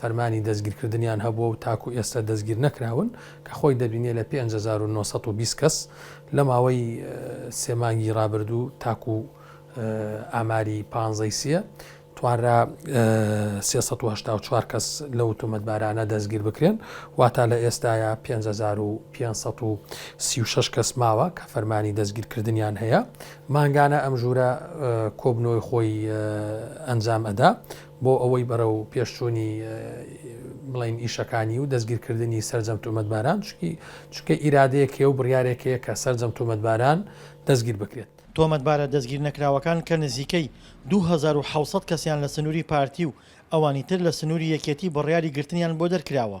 فەرمانی دەستگیرکردنیان هەبووە و تاکو ئێستا دەستگیرنەکراون، کە خۆی دەبینێ لە پێنج هەزار و نۆ سەد و بیست کەس لە ماوەی سێ مانگی رابردوو تاکو ئاماری پانزە ی سێ توانرا سێ سەد و هەشتا و چوار کەس لەو تۆمەتبارانە دەستگیر بکرێن، واتا لە ئێستایا پێنج هەزار و پێنج سەد و سی و شەش کەس ماوە کە فەرمانی دەستگیرکردنیان هەیە، مانگانە ئەم ژوورە کۆبنەوەی خۆی ئەنجام ئەدا. بۆ ئەوەی بەرەو پێشچوونی بڵین ئیشەکانی و دەستگیرکردنی سرجەم تۆمەتباران چکی چکە ئیرادەیەک هەیە و بڕارێک هەیە کە سرجەم تۆمەتباران دەستگیر بکرێت. تۆمەتبارە دەستگیر نەکراوەکان کە نزیکەی دوو هەزار و حەوت سەد کەسیان لە سنووری پارتی و ئەوانی تر لە سنووری یەکێتی بڕیاری گرتنیان بۆ دەرکراوە.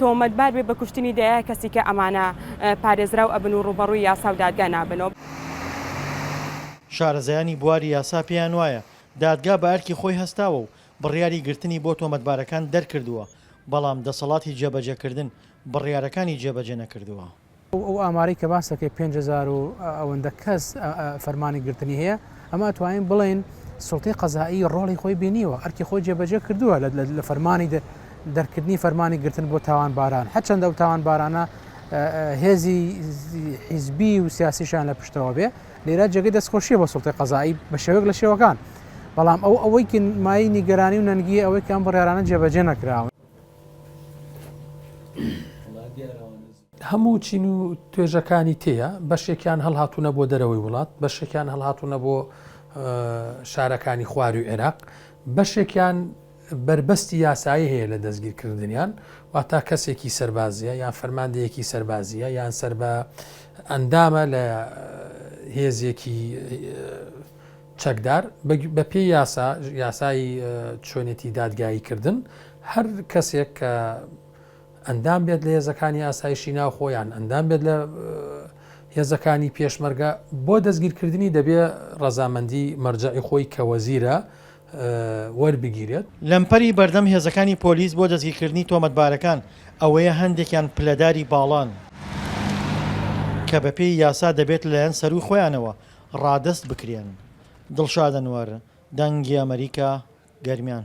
تۆمەتبار بێت بە کوشتنی دەیە کەسی کە ئەمانە پارێزراو ئەبن و ڕووبەڕووی یاسا و دادگا نابنەوە. شارەزایانی بواری یاسا پێیان وایە دادگا بە ئەرکی خۆی هەستاوە و بڕیاری گرتنی بۆ تۆمەتبارەکان دەرکردووە، بەڵام دەسەڵاتی جێبەجێکردن بڕیارەکانی جێبەجێ نەکردووە. ئەو ئامارەی کە باس دەکەی پێنج هەزار و ئەوەندە کەس فەرمانی گرتنی هەیە، ئەمە ئەتوانین بڵێین سوڵتەی قەزائی ڕۆڵی خۆی بینیوە، ئەرکی خۆی جێبەجێ کردووە لە فەرمانی دەرکردنی فەرمانی گرتن بۆ تاوانباران، هەرچەندە ئەو تاوانبارانە هێزی حیزبی و سیاسیشان لە پشتەوە بێ، لێرە جێگەی دەستخۆشیە بۆ سوڵتەی قەزائی بە شێوەیەک لە شێوەکان، بەڵام ئەو ئەوەی مایەی نیگەرانی و نەنگییە ئەوەی کە ئەم بڕیارانە جێبەجێ نەکراون. هەموو چین و توێژەکانی تێیە بەشێکیان هەڵهاتوونە بۆ دەرەوەی وڵات بەشێکیان هەڵهاتوونە بۆ شارەکانی خواروی عێراق بەشێکیان بەربەستی یاسایی هەیە لە دەستگیرکردنیان واتا کەسێکی سەربازیە یان فەرماندەیەکی سەربازیە یان سەر بە ئەندامە لە هێزێکی چەکدار، بە پێی یاسا، یاسای چۆنێتی دادگایی کردن، هەر کەسێک کە ئەندام بێت لە هێزەکانی ئاسایشی ناوخۆ یان ئەندام بێت لە هێزەکانی پێشمەرگە بۆ دەستگیرکردنی دەبێ ڕەزامەندی مەرجعی خۆی کە وەزیرە وەربگیرێت. لەمپەری بەردەم هێزەکانی پۆلیس بۆ دەستگیرکردنی تۆمەتبارەکان ئەوەیە هەندێکیان پلەداری باڵان کە بە پێی یاسا دەبێت لەلایەن سەرووی خۆیانەوە ڕادەست بکرێن. دڵشاد ئەنوەر، دەنگی ئەمەریکا، گەرمیان.